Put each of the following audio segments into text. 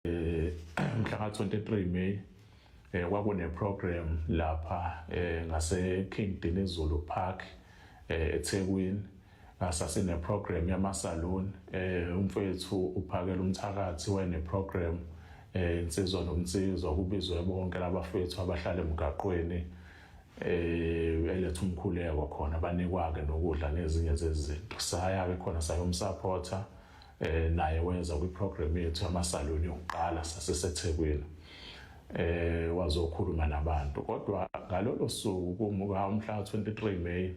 eh mhla ka 23 May eh kwakune program lapha eh ngase King Dinizulu Park eh eThekwini ngasase ne program yama salon eh umfethu uphakela umthakathi wayene program eh insizwa nomnsizwa kubizwe bonke labafethu abahlala emgaqweni eh eletha umkhuleko khona banikwa ke nokudla nezinye zezinto saya ke khona sayomsupporter eh naye wenza kwi program yethu amasaloni yokuqala saseseThekwini eh wazokhuluma nabantu kodwa ngalolo suku kumuka umhla 23 May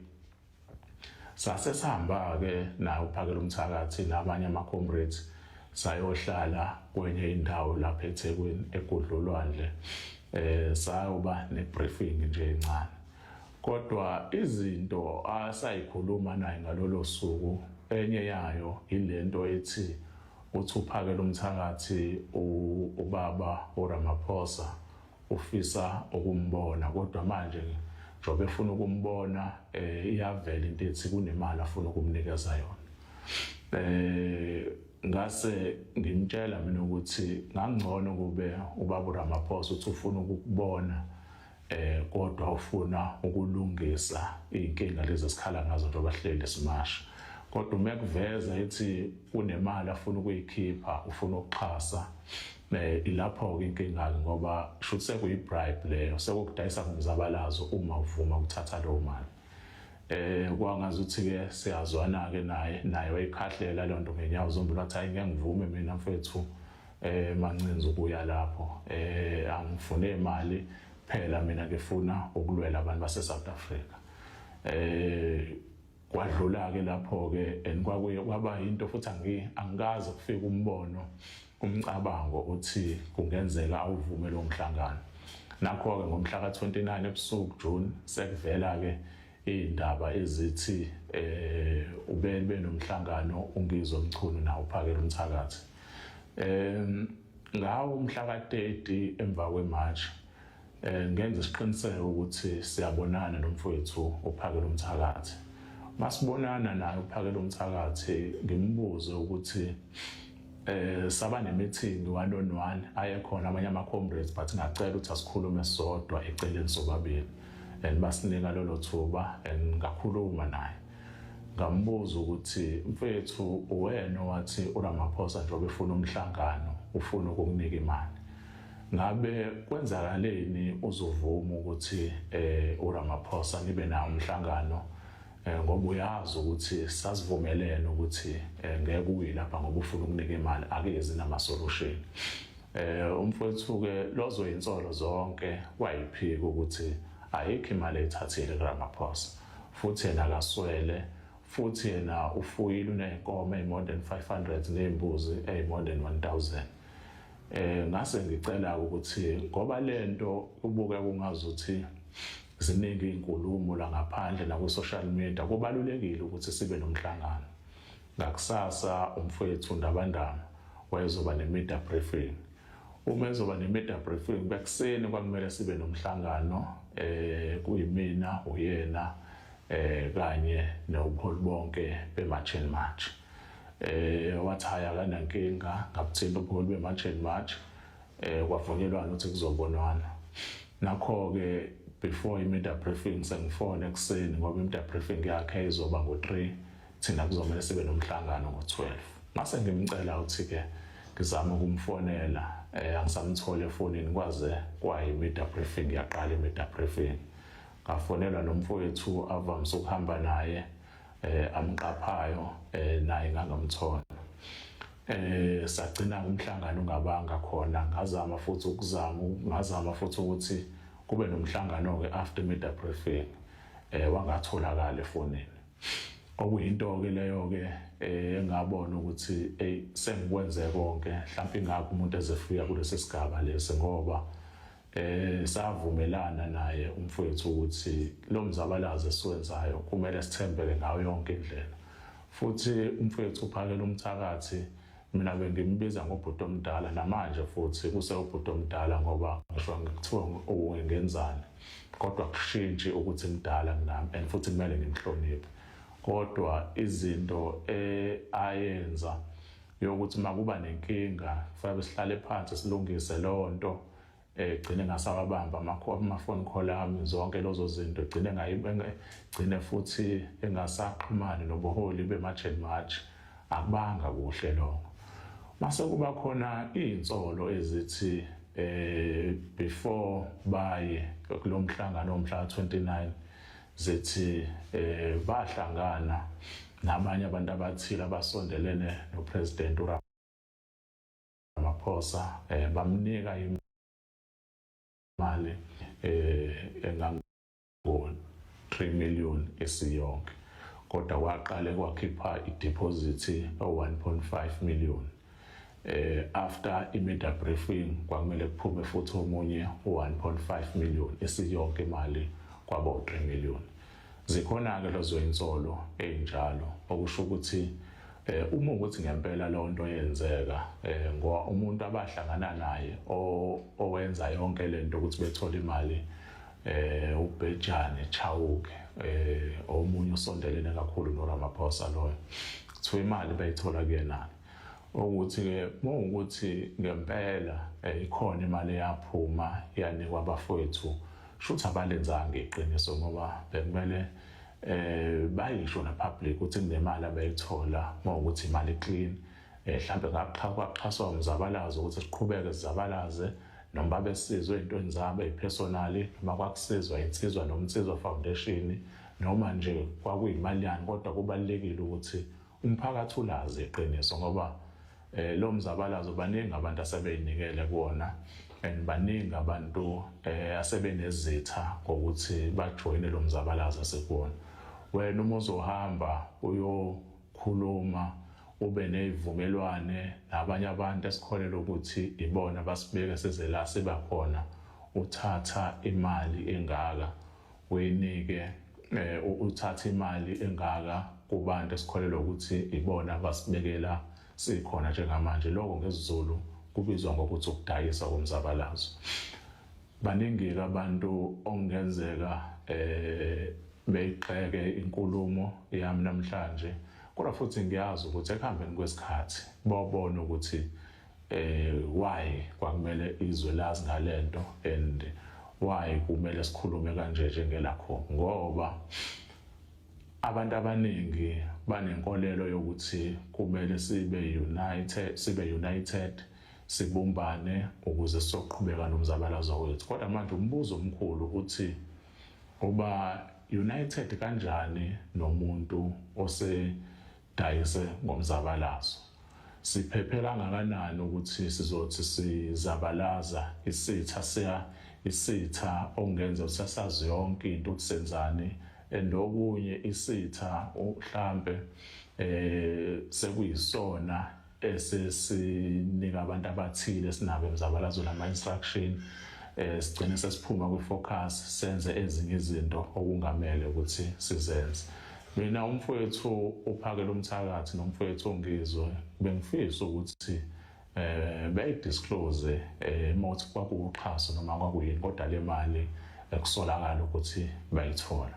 sase sihamba ke nawo phakela umthakathi nabanye ama comrades sayohlala kwenye indawo lapha eThekwini egudlolwandle eh sayoba ne briefing nje encane Kodwa izinto asayikhuluma naye ngalolo suku enye yayo yilento ethi uthi uphakela umthakathi ubaba uRamaphosa ufisa ukumbona kodwa manje njengoba efuna ukumbona eh iyavela into ethi kunemali afuna ukumnikeza yona eh ngase ngimtshela mina ukuthi ngangcono kube ubaba Ramaphosa uthi ufuna ukubona eh kodwa ufuna ukulungisa inkinga lezi esikhala ngazo nje abahleli simasha kodwa uma kuveza ethi kunemali afuna ukuyikhipha ufuna ukuxhasa eh ilapho-ke inkinga-ke ngoba shuthi sekuyi-bribe leyo sekukudayisa ngomzabalazo uma uvuma ukuthatha leyo mali eh kwangazi ukuthi-ke siyazwana-ke naye naye wayikhahlela leyo nto ngenyawo zombili wathi hayi ngeke ngivume mina mfethu eh mancinza ukuya lapho eh angifune imali phela mina ngifuna ukulwela abantu base South Africa eh kwadlula ke lapho ke and kwakuye kwaba into futhi angi angikaze kufika umbono umcabango uthi kungenzeka awuvume lo mhlangano nakho ke ngomhla ka 29 ebusuku June sekuvela ke Iy'ndaba ezithi um ube benomhlangano uNgizwe Mchunu nawo uphakela umthakathi um ngawo umhla ka-30 emva kwematshi um ngenza isiqiniseko ukuthi siyabonana nomfowethu uphakela umthakathi masibonana naye uphakela umthakathi ngimbuze ukuthi eh saba nemeeting one on one ayekhona abanye ama comrades but ngacela ukuthi asikhulume sodwa eceleni sobabili and basinika lolo thuba and ngakhuluma naye ngambuza ukuthi mfethu uwena wathi uRamaphosa njengoba efuna umhlangano ufuna ukukunika imali ngabe kwenzakaleni uzovuma ukuthi eh uRamaphosa nibe nawo umhlangano Eh, ngoba uyazi ukuthi sasivumelene ukuthi eh, ngeke uyi lapha ngoba ufuna ukunika imali akezi namasolution eh umfowethu-ke lozoyinsolo zonke wayiphika ukuthi ayikho imali ethathile kuramaphosa futhi yena akaswele futhi yena ufuyile uney'nkomo eyi-more than 500 ney'mbuzi eyi-more than 1000 eh ngase ngicela ukuthi ngoba lento ubuke kungazuthi Ziningi iy'nkulumo la ngaphandle nakwi-social media, kubalulekile ukuthi sibe nomhlangano. Ngakusasa umfowethu Ndabandaba wayezoba ne-media briefing. Uma ezoba ne-media briefing bekuseni kwakumele sibe nomhlangano eh kuyimina uyena eh kanye nobuholi bonke be-March and March. Eh wathi hhayi akanankinga ngabuthinta ubuholi be-March and March eh kwavunyelwana ukuthi kuzobonwana nakho ke before i-media briefing sengifone ekuseni ngoba i-media briefing yakhe izoba ngo-3 thina kuzomele sibe nomhlangano ngo-12 ngase ngimcela ukuthi ke ngizama ukumfonela eh angisamthole efonini kwaze kwayi media briefing yaqala i media briefing ngafonelwa nomfowethu avamise ukuhamba naye eh amqaphayo eh naye ngangamthola eh sagcina umhlangano ungabanga khona ngazama futhi ukuzama ngazama futhi ukuthi kube nomhlangano ke after media briefing eh wangatholakala efonini okuyinto ke leyo ke eh, engabona ukuthi hey sengikwenze konke mhlawumbe ingakho umuntu ezefika kulesi sigaba lesi ngoba Eh savumelana naye umfowethu ukuthi lo mzabalazo esiwenzayo kumele sithembeke ngayo yonke indlela. Futhi umfowethu uphakela umthakathi mina bengimbiza ngobhuti omdala namanje futhi kusewubhuti omdala ngoba ngisho ngikuthiwa ungenzani kodwa kushintshi ukuthi mdala kunami and futhi kumele ngimhloniphe kodwa izinto eh, ayenza yokuthi makuba nenkinga kufanele sihlale phansi silungise leyo nto egcine ngasawabamba ama-phone call ami zonke lozo zinto gcine gcine futhi engasaxhumani nobuholi bema-jan march akubanga kuhle lokho mase kuba khona iy'nsolo ezithi eh before baye kulo mhlangano omhla 29 zithi eh bahlangana Nabanye abantu abathile abasondelene noPresident uRamaphosa eh, bamnika imali eh engango 3 million esiyonke kodwa waqale kwakhipha ideposit o 1.5 million eh after imedia briefing kwakumele kuphume futhi omunye u1.5 million isiyonke imali kwabo 3 million zikhona ke lezo insolo ezinjalo okusho ukuthi eh uma ukuthi ngempela leyo nto yenzeka eh ngoba umuntu abahlangana naye owenza yonke lento ukuthi bethole imali eh ubhejane chawuke eh omunye usondelene kakhulu noRamaphosa loyo kuthiwa imali bayithola kuyena ukuthi ke ukuthi ngempela eh, ikhona imali eyaphuma yanikwa abafowethu shuthi abalenzanga iqiniso ngoba bekumele eh bayisho na public ukuthi kunemali abayithola ngokuthi imali clean Eh, mhlampe kwaxhaswa umzabalazo ukuthi siqhubeke sizabalaze noma babesizwe ey'ntweni zabo ey'phesonali noma kwakusizwa insizwa noma insizwa foundation noma nje kwakuyimali yani kodwa kubalulekile ukuthi umphakathi ulazi iqiniso ngoba eh lo mzabalazo baningi abantu asebeyinikele kuona and baningi abantu eh asebenezitha ngokuthi bajoyine lo mzabalazo sekuona wena uma uzohamba uyo Khuluma ube nezivumelwane nabanye abantu esikholelwa ukuthi ibona basibeke size la siba khona uthatha imali engaka uyinike eh, uthatha imali engaka kubantu esikholelwa ukuthi ibona abasibekela sikhona njengamanje lokho ngesizulu kubizwa ngokuthi ukudayisa komzabalazo Baningike abantu okungenzeka eh beyixeke inkulumo yami namhlanje kodwa futhi ngiyazi ukuthi ekuhambeni kwesikhathi bawubona ukuthi eh why kwakumele izwe lazi ngalento and why kumele sikhulume kanje njengelakho ngoba abantu abaningi banenkolelo yokuthi kumele sibe united sibe united sibumbane ukuze sizoqhubeka nomzabalazo wethu kodwa manje umbuzo omkhulu uthi uba united kanjani nomuntu osedayise ngomzabalazo siphephela ngakanani ukuthi sizothi sizabalaza isitha siya isitha ongenza usasazi yonke into ukuthi senzani endokunye isitha uhlambe eh sekuyisona esesinika abantu abathile esinabo emzabalazweni ama-instruction um sigcine sesiphuma kwi-focus senze ezinye izinto okungamele ukuthi sizenze mina umfowethu uphakela umthakathi nomfowethu ongizwe bengifisa ukuthi eh beyidisclose eh mothi kwakuwuxhaso noma kwakuyini kodwa le mali ekusolakala ukuthi bayithola